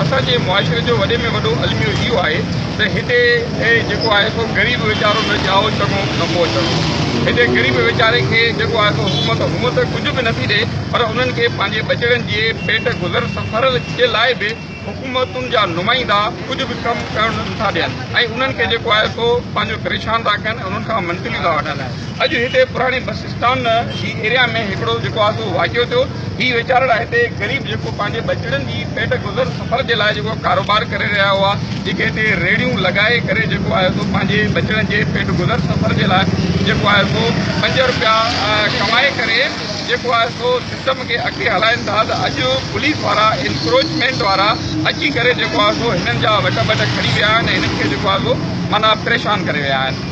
اسان جي معاشري جو وڏي ۾ وڏو الميو اهو آهي ته هتي جيڪو آهي سو غريب ويچارو نه ڄائو چڱو نه پوء چڱو. هتي غريب ويچاري کي جيڪو آهي سو حڪومت هونء ته ڪجهه به نٿي ڏئي پر انهن کي پنهنجي ٻچڙن جي پيٽ گذر سفر جي لاء به حڪومتن جا نمائندا ڪجهه به ڪم ڪرڻ نٿا ڏين ۽ انهن کي جيڪو آهي سو پنهنجو پريشان ٿا ڪن ۽ انهن کان منٿليون ٿا وٺن. اڄ هتي پراڻي بس اسٽان جي ايريا ۾ هڪڙو جيڪو آهي سو واقعو ٿيو هي ويچارڙا هتي غريب جيڪو پنهنجي ٻچڙن جي پيٽ گذر سفر جي لاء جيڪو ڪاروبار ڪري رهيا هئا جيڪي هتي ريڙهيون لڳائي ڪري جيڪو آهي سو پنهنجي ٻچڙن جي پيٽ گذر سفر جي لاء جيڪو آهي سو پنج روپيا ڪمائي ڪري جيڪو آهي سو سسٽم کي اڳتي هلائين ٿا ته اڄ پوليس وارا انڪروچمينٽ وارا اچي ڪري جيڪو آهي سو هنن جا وٽ ٻٽ کڻي ويا آهن هنن کي جيڪو آهي سو معنيٰ پريشان ڪري ويا آهن